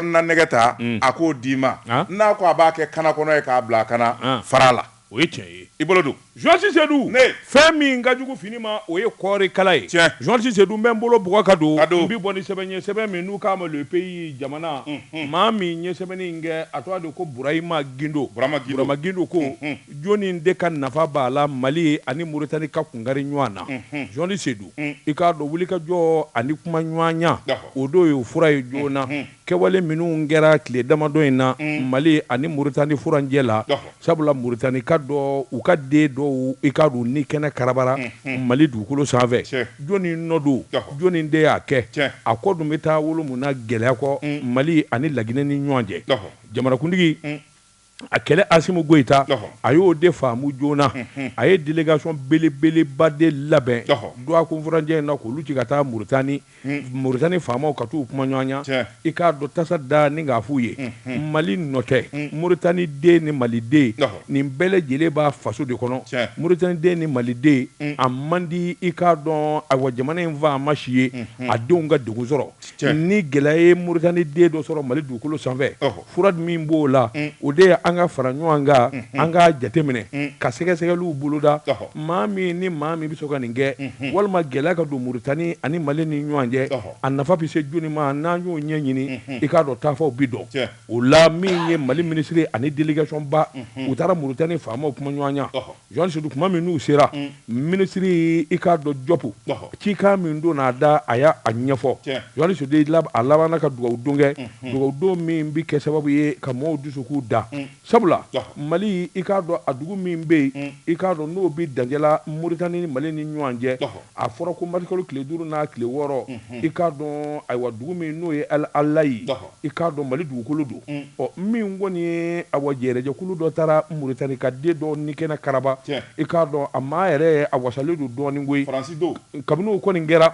na nɛgɛ ta a k'o d'i ma n'a ko a b'a kɛ kana kɔnɔ ye k'a bila a kana fara la o ye tiɲɛ ye i bolo don jɔsi sedu fɛn min ka jugu fini ma o ye kɔɔri kala ye jɔsi sedu n bɛ n bolo bugɔ ka don n bɛ bɔ ni sɛbɛn ye sɛbɛn min n'u k'a ma le pays jamana maa min ye sɛbɛnni in kɛ a tɔgɔ de ko burama gindo burama gindo ko Jɔni de ka nafa b'a la Mali ani Mauritanie ka kunkari ɲɔan na? Jɔsi Sedu, I k'a dɔn wulikajɔ ani kumaɲɔanya, o don ye o fura ye joona. Kɛwale minnu kɛra tile damadɔ in na Mali ani Mauritanie furancɛ la, sabula Mauritanie ka dɔ, u ka den dɔw, i k'a dɔn u ni kɛnɛ karabara Mali dugukolo sanfɛ. Jɔni nɔ don? Jɔni de y'a kɛ? A kɔ dun bɛ taa wolo mun na gɛlɛya kɔ Mali ani Laguinɛ ni ɲɔan cɛ? Jamanakuntigi. a kɛlɛ asimu goyita a y'o de faamu joona a ye delegasɔn belebeleba de labɛn dɔgɔkun furancɛ in na k'olu ci ka taa muritani muritani faamaw ka t'u kuma ɲɔgɔnya i k'a dɔn tasa da ni k'a f'u ye mali nɔ tɛ muritani den ni maliden nin bɛɛ lajɛlen b'a faso de kɔnɔ muritani den ni maliden a man di i k'a dɔn ayiwa jamana in faama si ye a denw ka degun sɔrɔ ni gɛlɛya ye muritani den dɔ sɔrɔ mali dugukolo sanfɛ fura min b'o la mm. o de ye an ka fara ɲɔgɔn kan mm-hmm. an ka jateminɛ mm. ka sɛgɛsɛgɛliw boloda maa min ni maa min bɛ sɔn ka nin kɛ mm-hmm. walima gɛlɛya ka don muritani ani mali ni ɲɔgɔn cɛ a nafa bɛ se jɔni ma n'an y'o ɲɛɲini mm-hmm. i k'a dɔn taafanw bi dɔn o la min ye mali minisiri ani delegasɔnba u taara muritani faamaw kuma ɲɔgɔn Jɔsi Sedu tuma min n'u sera minisiri i k'a dɔn jɔpu cikan min donn'a da a y'a ɲɛfɔ jɔsi sedu a labanna ka dugawudon kɛ dugawudon min bɛ kɛ sababu ye ka maaw dusukun da sabula mali i k'a dɔn a dugu min bɛ yen i k'a dɔn n'o bɛ dancɛ la muritani ni mali ni ɲɔgɔn cɛ A fɔra ko marisikalo tile duuru n'a tile wɔɔrɔ i k'a dɔn ayiwa dugu min n'o ye alayi i k'a dɔn mali dugukolo don ɔ min kɔni ye ayiwa kɛlɛjɛkulu dɔ taara muritani ka den dɔ ni kɛnɛ karaba i k'a dɔn a maa yɛrɛ a wasalen don dɔɔnin koyi kabini o kɔni kɛra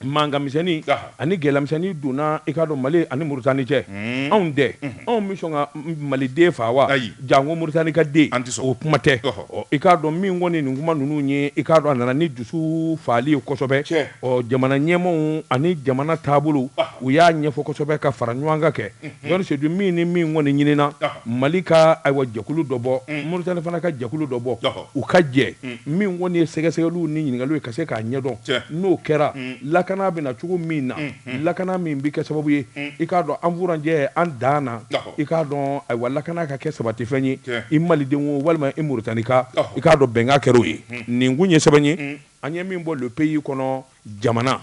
mankanmisɛnnin Ani gɛlɛyamisɛnnin donna i k'a dɔn Mali ani Muritani cɛ, unhun, anw dɛ, unhun, anw bɛ sɔn ka Maliden faga wa? Ayi, janko Muritani ka den, an tɛ sɔn, o kuma tɛ, ɔhɔ, ɔ i k'a dɔn min kɔni ye nin kuma ninnu ye, i k'a dɔn a nana ni dusu fagali ye kosɛbɛ, tiɲɛ, ɔ jamana ɲɛmaaw ani jamana taabolo, ɔhɔ, u y'a ɲɛfɔ kosɛbɛ ka fara ɲɔgɔn kan kɛ, unhun, Jɔsi Sedu min ni min kɔni ɲinina, ɔhɔ, Mali ka ayiwa jɛkulu dɔ bɔ, un, Muritani fana ka jɛkulu dɔ bɔ, ɔhɔ, u ka jɛ, un, min kɔni ye sɛgɛsɛgɛliw ni ɲininkaliw ye ka se k'a ɲɛdɔn, tiɲɛ, n'o kɛra, un. lakana bɛ na cogo min na lakana min bɛ kɛ sababu ye i k'a dɔn an furancɛ an dan na i k'a dɔn ayiwa lakana ka kɛ sabatifɛn ye i maliden o walima i moritanika i k'a dɔn bɛnkan kɛra o ye nin tun ye sɛbɛn ye an ye min bɔ Le Pays kɔnɔ jamana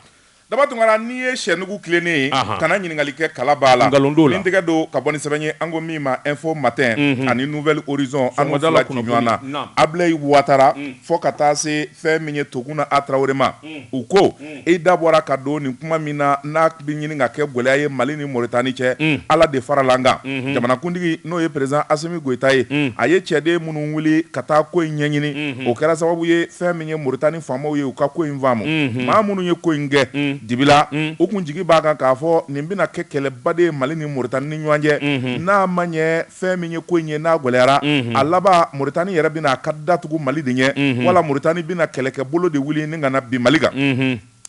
daba tunkara n'i ye sɛnugu tilennen ye kana ɲininkali kɛ kala b'a la ni tɛgɛ don ka bɔ ni sɛbɛn ye an ko min ma Info Matin ani Nouvel Horizon an n'o fila ci ɲɔgɔn na abilayi watara fo ka taa se fɛn min ye tuguna a tarawele ma u ko i da bɔra ka don nin kuma min na n'a bɛ ɲini ka kɛ gɛlɛya ye mali ni moritani cɛ ala de farala an kan jamanakuntigi n'o ye président asimi goyita ye a ye ciden minnu wuli ka taa ko in ɲɛɲini o kɛra sababu ye fɛn min ye moritani faamaw ye u ka ko in faamu maa minnu ye ko in kɛ dibi la u tun jigi b'a kan k'a fɔ nin bɛna kɛ kɛlɛba de ye mali ni moritani ni ɲɔgɔn cɛ n'a ma ɲɛ fɛn min ye ko in ye n'a gɛlɛyara a laban moritani yɛrɛ bɛna a ka da tugu mali de ɲɛ wala moritani bɛna kɛlɛkɛbolo de wuli ni ka na bin mali kan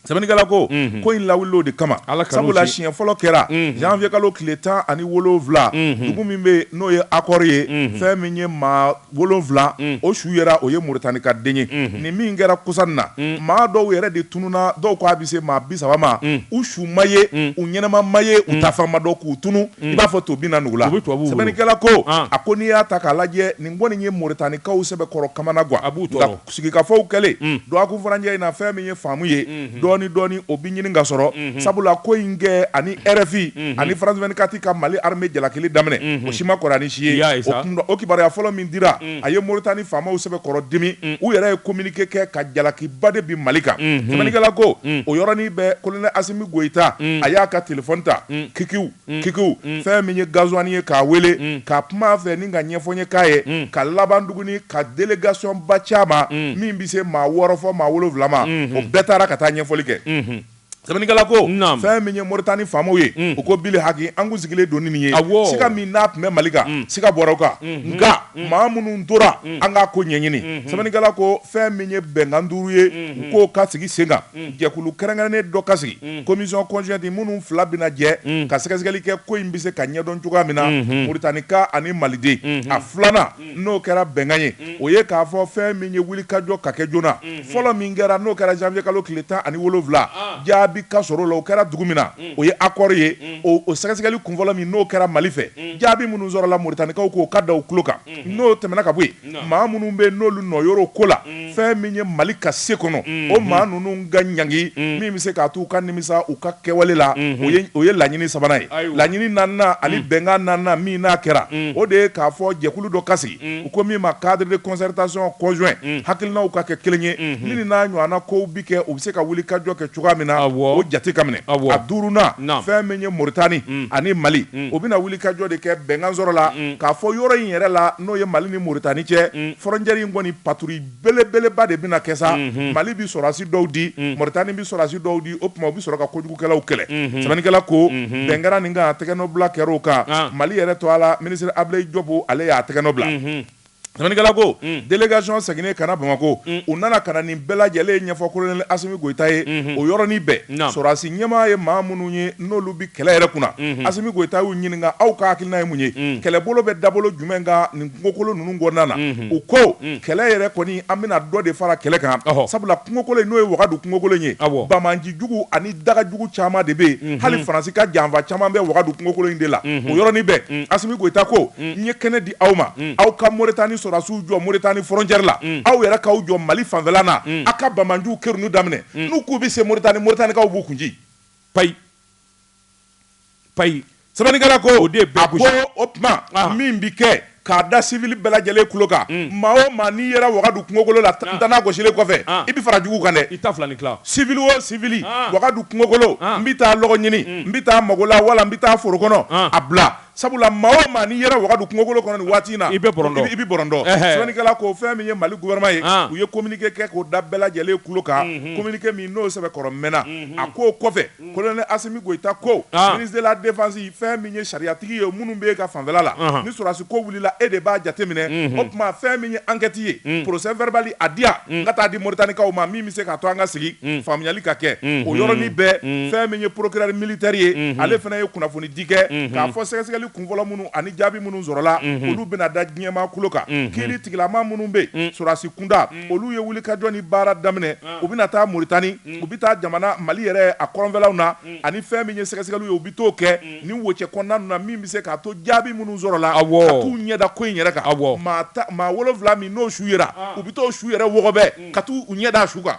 sɛbɛnnikɛla ko ko in lawulila o de kama sabula siɲɛ fɔlɔ kɛra janvier kalo tile tan ani wolonwula dugu min bɛ yen n'o ye akɔri ye fɛn min ye maa wolonwula o su yera o ye moritani ka den ye nin min kɛra kɔsa in na maa dɔw yɛrɛ de tununa dɔw k'a bɛ se maa bi saba ma u su ma ye u ɲɛnama ma ye u taafan ma dɔn k'u tunu i b'a fɔ to bin na nugu la sɛbɛnnikɛla ko a ko n'i y'a ta k'a lajɛ nin kɔni ye moritanikaw sɛbɛkɔrɔ kamanagan a b'u Sigikafɔw kɛlen dɔgɔkun furancɛ in na fɛn min ye faamu ye dɔɔni dɔɔni o bɛ ɲini ka sɔrɔ sabula ko in kɛ ani RFI ani France 24 ka Mali armée jalakili daminɛ o si ma kɔrɔ ni si ye o kibaruya fɔlɔ min dira a ye Mauritanie faamaw sɛbɛkɔrɔ dimi u yɛrɛ ye communiqué kɛ ka jalakiba de bin Mali kan sɛbɛnnikɛla ko o yɔrɔnin bɛɛ Colonel Assimi Goïta a y'a ka téléphone ta kikiw kikiw fɛn min ye Ghazouani ye k'a wele ka kuma a fɛ ani k'a ɲɛfɔ a ye k'a ye ka laban tuguni ka délégation-ba ci a ma min bɛ se maa wɔɔrɔ fo maa wolonwula ma o bɛɛ taara ka taa ɲɛfɔli kɛ sɛbɛnnikɛla ko fɛn min ye Moritani faamaw ye u ko bilihaki an tun sigilen don ni nin ye siga min n'a tun bɛ Mali kan siga bɔra o kan nka maa minnu tora an k'a ko ɲɛɲini sɛbɛnnikɛla ko fɛn min ye bɛnkan duuru ye u k'o ka sigi sen kan. jɛkulu kɛrɛnkɛrɛnnen dɔ ka sigi commission conjointe minnu fila bɛna jɛ ka sɛgɛsɛgɛli kɛ ko in bɛ se ka ɲɛdɔn cogoya min na Muritanika ani Maliden a filanan n'o kɛra bɛnkan ye o ye k'a fɔ fɛn min ye wulikajɔ ka kɛ joona fɔlɔ min kɛra n'o kɛra janvier kalo tile tan ani wolonwula jaabi ka sɔrɔ o la o kɛra dugu min na o ye Akɔri ye o sɛgɛsɛgɛli kunfɔlɔ min n'o kɛra Mali fɛ jaabi minnu sɔrɔla Muritanikaw k'o ka da u tulo kan n'o tɛmɛna ka bɔ yen maa minnu bɛ n'olu nɔ yɔrɔ ko la fɛn min ye mali ka se kɔnɔ o maa ninnu ka ɲangi min bɛ se k'a to u ka nimisa u ka kɛwale la o ye laɲini sabanan ye laɲini naaninan ani bɛnkan naaninan min n'a kɛra o de ye k'a fɔ jɛkulu dɔ ka sigi u ko min ma cadre de concertation conjoint hakilinaw ka kɛ kelen ye min n'a ɲɔgɔnna kow bɛ kɛ u bɛ se ka wulikajɔ kɛ cogoya min na o jate ka minɛ a duurunan fɛn min ye moritani ani mali o bɛna wulikajɔ de kɛ bɛnkan sɔrɔla k'a fɔ yɔrɔ in yɛrɛ la n'o ye mali ni moritani cɛ frontière in kɔni patrouille belebeleba de bɛna kɛ sa mali bɛ sɔrɔdasi dɔw di moritani bɛ sɔrɔdasi dɔw di o tuma u bɛ sɔrɔ ka kojugukɛlaw kɛlɛ sɛbɛnnikɛla ko bɛn kɛra nin kan a tɛgɛnɔbila kɛra o kan mali yɛrɛ tɔgɔ la minisiri ablayi jɔbu ale y'a tɛgɛnɔ bila Sɛbɛnnikɛla ko, un, délégation seginnen ka na Bamakɔ, un, u nana ka na nin bɛɛ lajɛlen ɲɛfɔ Kolonɛli Asimi Goyita ye, unhun, o yɔrɔnin bɛɛ, naamu, sɔrɔdasi ɲɛmaa ye maa minnu ye n'olu bɛ kɛlɛ yɛrɛ kunna, unhun, Asimi Goyita y'u ɲininka aw ka hakilina ye mun ye, un, kɛlɛbolo bɛ dabolo jumɛn kan nin kungokolo ninnu kɔnɔna na, unhun, u ko, un, kɛlɛ yɛrɛ kɔni an bɛna dɔ de fara kɛlɛ kan, ɔhɔ, sabula kungokolo in n'o ye Wagadu kungokolo in ye, awɔ, banbaanci jugu ani daga jugu caman de bɛ yen, unhun, hali Faransi ka janfa caman bɛ Wagadu kungokolo in de la, unhun, o yɔrɔnin bɛɛ, un, Asimi Goyita ko, un, n ye kɛnɛ di aw ma aw ka moritani sɔrɔdasiw jɔ moritani frontière la aw yɛrɛ k'aw jɔ mali fanfɛla na aw ka banbaanciw kɛrun daminɛ n'u k'u bɛ se moritani moritanikaw b'u kun ci payi payi sɛbɛnnikɛla ko o de ba o tuma min bɛ kɛ k'a da sibili bɛɛ lajɛlen kulo kan maa o maa n'i yera wagadu kungokolo la tanan gosilen kɔfɛ i bɛ fara jugu kan dɛ i ni sibili o sibili wagadu kungokolo n bɛ taa lɔgɔ ɲini n bɛ taa magola wala n bɛ taa foro kɔnɔ a bila Sabula maa o maa n'i yera wagadu kungokolo kɔnɔ nin waati in na, i bɛ bɔrɔntɔ, i bɛ bɔrɔntɔ, ɛhɛ, sɛbɛnnikɛla ko fɛn min ye Mali gouvernement ye, an, u ye communiqué kɛ k'o da bɛɛ lajɛlen kulo kan, unhun, communiqué min n'o sɛbɛkɔrɔ mɛnna, unhun, a k'o kɔfɛ, un, colonel Asimi Goyita ko, an, ministre de la défense fɛn min ye sariyatigi ye minnu bɛ e ka fanfɛla la, anhan, ni sɔrɔdasi ko wulila e de b'a jateminɛ, unhun, o tuma fɛn min ye enquête ye, un, procès verbal a di yan, un, n ka taa di Moritanikaw ma min bɛ se k'a to an ka sigi, un, faamuyali ka kɛ, unhun, o yɔrɔnin bɛɛ, un, fɛn min ye procureur militaire ye, unhun, ale fana ye kunnafoni di kɛ k'a fɔ sɛgɛsɛgɛli kunfɔlɔ minnu ani jaabi minnu sɔrɔla olu bɛna da diɲɛmaa kulo kan kiiritigɛla maa minnu bɛ yen sɔrɔdasi kunda olu ye wulikajɔ ni baara daminɛ u bɛna taa Moritani u bɛ taa jamana Mali yɛrɛ a kɔrɔnfɛlaw na ani fɛn min ye sɛgɛsɛgɛliw ye u bɛ t'o kɛ nin wocɛ kɔnɔna ninnu na min bɛ se k'a to jaabi minnu sɔrɔla ka t'u ɲɛda ko in yɛrɛ kan maa wolonwula min n'o su yera u bɛ t'o su yɛrɛ wɔgɔbɛ ka t'u ɲɛda a su kan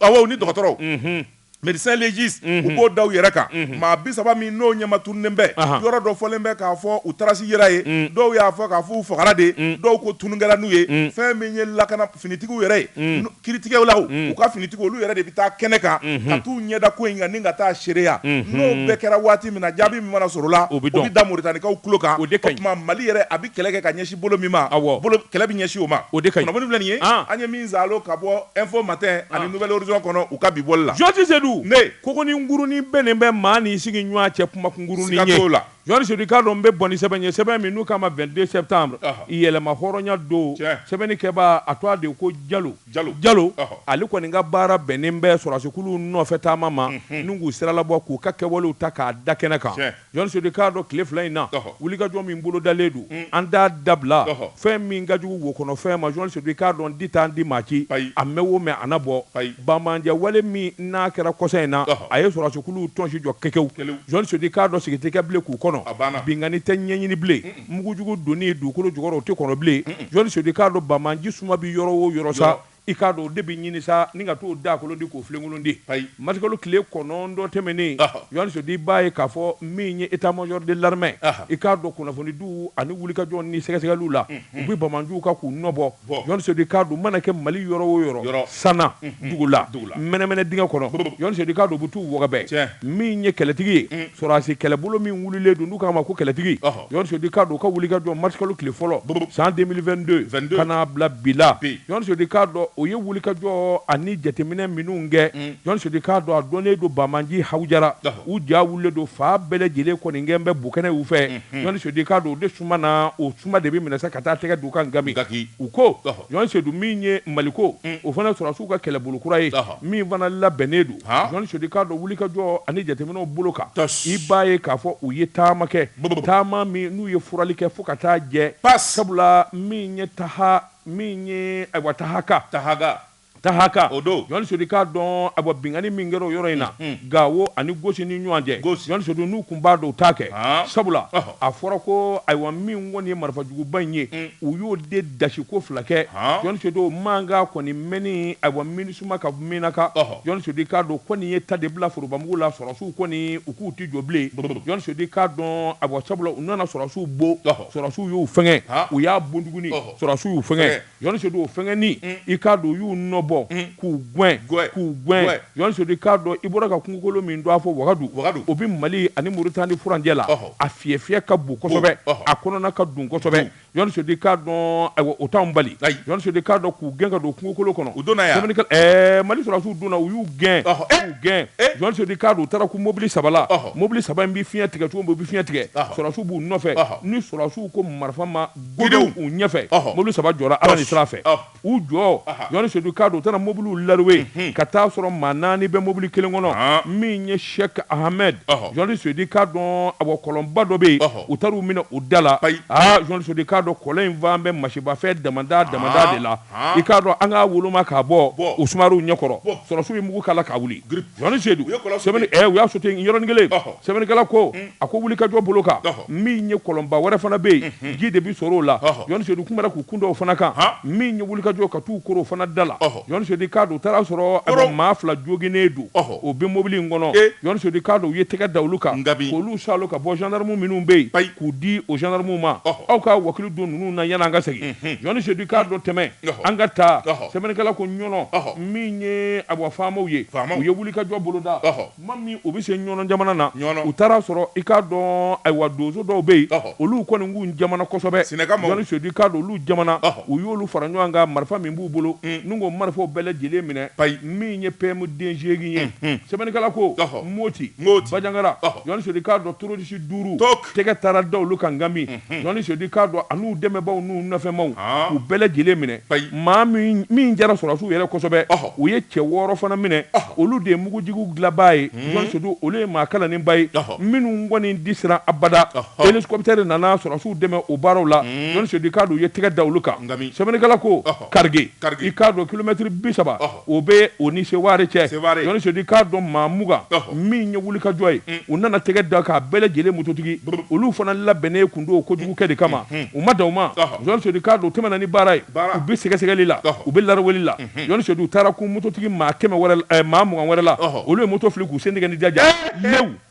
awɔ u ni dɔgɔtɔrɔw. Médecins légistes u b'o da u yɛrɛ kan maa bi saba min n'o ɲɛma tununnen bɛ yɔrɔ dɔ fɔlen bɛ k'a fɔ u traces yera yen dɔw y'a fɔ k'a fɔ u fagara de dɔw ko tunun kɛra n'u ye fɛn min ye lakana finitigiw yɛrɛ ye kiiritigɛlaw u ka finitigiw olu yɛrɛ de bɛ taa kɛnɛ kan ka t'u ɲɛda ko in kan ni ka taa seereya n'o bɛɛ kɛra waati min na jaabi min mana sɔrɔ o la o bɛ da Moritanikaw kulo kan o de ka ɲi o tuma Mali yɛrɛ a bɛ kɛlɛ kɛ ka ɲɛsin bolo min ma awɔ bolo kɛlɛ bɛ ɲɛsin o ma o de ka ɲi kunnafoni filɛ nin ye an an ye min zalo ka bɔ info matin ani nouvel horizon kɔnɔ u ka bi bɔli la Jɔn Sedu ne kogonin ngurunin bɛnnen bɛ maa n'i sigiɲuan cɛ kumakungurunin ye siga t'o la Jɔn Sedu i k'a dɔn n bɛ bɔ ni sɛbɛn ye sɛbɛn min n'u k'a ma 22 septembre ɔhɔ yɛlɛma hɔrɔnya don tiɲɛ sɛbɛnni kɛbaa a tɔgɔ de ye ko Jalo Jalo Jalo ɔhɔ ale kɔni ka baara bɛnnen bɛ sɔrɔdasikuluw nɔfɛtaama ma unhun ni k'u siralabɔ k'u ka kɛwalew ta k'a da kɛnɛ kan tiɲɛ Jɔn Sedu i k'a dɔn tile fila in na, ɔhɔ, wulikajɔ min bolodalen don, un, an t'a dabila, ɔhɔ, fɛn min ka jugu wo kɔnɔ fɛn ma, Jɔn Sedu i k'a dɔn di t'an di maa ci, ayi, a mɛn o mɛn a na bɔ, ayi, banbaanci wale min n'a kɛra kɔsa in na, ɔhɔ, a ye sɔrɔdasikuluw tɔnsi jɔ kekew, kekew, Jɔn Sedu i k'a dɔn sigi tɛ kɛ bilen k'u kɔnɔ, a banna, binkanni tɛ ɲɛɲini bilen, un un, mugujugu donni dugukolo jukɔrɔ o tɛ kɔnɔ bilen, un un, Jɔn Sedu i k'a dɔn banbaanci suma bɛ yɔrɔ o yɔrɔ sa, yɔrɔ. I k'a dɔn o de bɛ ɲini sa ni ka t'o daakolon ti k'o filenkolon ti. Ayi. Marisikalo tile kɔnɔntɔn tɛmɛnen. Ɔhɔ. Jɔn Sedu i b'a ye k'a fɔ min ye état-major de l'armée. Ahan. I k'a dɔn kunnafonidiw ani wulikajɔw ni sɛgɛsɛgɛliw la. Unhun. U bɛ banbaanciw kan k'u nɔ bɔ. Bɔ. Jɔn Sedu i k'a dɔn u mana kɛ Mali yɔrɔ o yɔrɔ. Yɔrɔ. San na. Unhun. Dugu la. Dugu la. Mɛnɛmɛnɛ dingɛ kɔnɔ. Bobbo. Jɔn Sedu i k'a dɔn u bɛ t'u wɔgɔbɛ. Tiɲɛ. Min ye kɛlɛtigi ye. Un. Sɔrɔdasi kɛlɛbolo min wulilen don n'u k'a ma ko kɛlɛtigi. Ɔhɔ. Sedu i k'a dɔn u ka wulikajɔ marisikalo tile fɔlɔ san 2022 ka n'a bila bi la Jɔn Sedu i k'a dɔn o ye wulikajɔ ani jateminɛ minnu kɛ Jɔn Sedu i k'a dɔn a dɔnnen don banbaanci hawujara u ja wulilen don fan bɛɛ lajɛlen kɔni gɛn bɛ bo kɛnɛ u fɛ Jɔn Sedu i k'a dɔn o de suma na o suma de bɛ minɛ ka taa tɛgɛ d'u kan nka u ko Jɔn Sedu min ye Maliko o fana sɔrɔsiw ka kɛlɛbolo kura ye min fana labɛnnen don Jɔn Sedu i k'a dɔn wulikajɔ ani jateminɛw bolo kan i b'a ye k'a fɔ u ye taama kɛ taama min n'u ye furali kɛ fo ka t'a jɛ pa sabula min ye taha min ye ayiwa Tahaka Tahaka Tahaka o don Jɔn Sedu i k'a dɔn awa binkanni min kɛra o yɔrɔ in na Gawo ani Gosi ni ɲɔgɔn cɛ Jɔn Sedu n'u tun b'a dɔn u t'a kɛ sabula a fɔra ko ayiwa min kɔni ye marifajuguba in ye u y'o de dasi ko fila kɛ Jɔn Sedu o mankan kɔni mɛnni ayiwa Minisuma ka Menaka Jɔn Sedu i k'a dɔn ko nin ye ta de bila forobamugu la sɔrɔsiw kɔni u k'u tɛ jɔ bilen Jɔn Sedu i k'a dɔn ayiwa sabula u nana sɔrɔsiw bon sɔrɔsiw y'u fɛngɛ u y'a bon tuguni sɔrɔsiw y'u fɛngɛ Jɔn Sedu o fɛnkɛni, un, i k'a dɔn u y'u nɔ bɔ, un, k'u gɛn, gɛn, k'u gɛn, gɛn. Jɔn Sedu i k'a dɔn i bɔra ka kungokolo min dɔn a fɔ Wagadu, Wagadu, o bɛ Mali ani Moritani furancɛ la, ɔhɔ, a fiyɛ ka bon kosɛbɛ, bon, ɔhɔ, a kɔnɔna ka dun kosɛbɛ, Jɔn Sedu i k'a dɔn, ayiwa, o t'anw bali, ayi, Jɔn Sedu i k'a dɔn k'u gɛn ka don kungokolo kɔnɔ, u donna yan, sɛbɛnnikɛla, ɛɛ, Mali sɔrɔdasiw donna, u y'u gɛn, ɔhɔ, e! k'u gɛn, e! Jɔn Sedu i k'a dɔn u taara ko mobili saba la, ɔhɔ, mobili saba in bɛ fiɲɛ tigɛ cogo min u bɛ fiɲɛ tigɛ, ɔhɔ, sɔrɔdasiw b'u nɔfɛ, ɔhɔ, ni sɔrɔdasiw ko marifa ma Gdenw u ɲɛfɛ mobili saba jɔra ala ni sira fɛ u jɔ jɔn sedu k'a dɔn u taara mobili larawe ka taa a sɔrɔ maa naani bɛ mobili kelen kɔnɔ min ye sɛki hamɛdi jɔnni sedi k'a dɔn awa kɔlɔnba dɔ bɛ yen u taara u minɛ o da la jɔn sodi k'a dɔn kɔlɔn in fan bɛ masibafɛn dama da de la i k'a dɔn an k'a woloma k'a bɔ u suma ɲɛkɔrɔ sɔrɔsiw ye mugu k'a la k'a wuli Jɔni sedu u y'a sote yɔrɔnin kelen sɛbɛnnikɛla ko a ko wulikajɔ bolo kan min ye kɔlɔnba wɛrɛ fana bɛ yen ji de bɛ sɔrɔ o la jɔn sedu tun k'u kun da o fana kan min ye wulikajɔ ka taa u koron o fana da la jɔn sodi k'a dɔn u taara a sɔrɔ maa fila joginnen don o bɛ mobili in kɔnɔ jɔn sodi k'a dɔn u ye tɛgɛ da olu kan k'olu salo ka bɔ zandaramu minnu bɛ yen k'u di o zandaramu ma aw ka wakili don ninnu na yan an ka segin jɔn sedu k'a dɔn tɛmɛ an ka taa sɛbɛnnikɛla ko ɲɔnɔ min ye awa faamaw ye u ye wuli ka jɔ boloda tuma min u bɛ se ɲɔnɔ jamana na u taara sɔrɔ i k'a dɔn ayiwa donso dɔw bɛ yen olu kɔni k'u jamana kosɛbɛ jɔn sodi k'a dɔn olu jamana u y'olu fara ɲɔgɔn kan marifa min b'u bolo n'u ko marifaw bɛɛ lajɛlen minɛ min ye PM den segin ye sɛbɛnnikɛla ko moti bajangara jɔn sedu k'a dɔn terorisi duuru tɛgɛ taara da olu kan nka min jɔni sedi k'a dɔn an'u dɛmɛbaaw n'u nɔfɛmaaw u bɛɛ lajɛlen minɛ maa min jara sɔrɔsiw yɛrɛ kosɛbɛ u ye cɛ wɔɔrɔ fana minɛ olu de ye mugujugu dilanbaa ye jɔni sedu olu ye maa kalannenba ye minnu kɔni di siran abada elikɔputɛri nana sɔrɔsiw dɛmɛ o baaraw la jɔni sedi k'a dɔn u ye tɛgɛ da olu kan sɛbɛnnikɛla ko karige i k'a dɔn kilomɛtiri bi saba O bɛ o ni seware cɛ jɔnni sodi k'a dɔn maa mugan min ye wuli kajɔ ye u nana tɛgɛ da k'a bɛɛ lajɛlen mototigi olu fana labɛnnen kun don kojugukɛ de kama u ma dan o ma jɔn sodi k'a dɔn u tɛmɛna ni baara ye u bɛ sɛgɛsɛgɛli la u bɛ laraweli la jɔn sodi u taara kun mototigi maa kɛmɛ maa mugan wɛrɛ la olu ye moto fili k'u sen ni jaja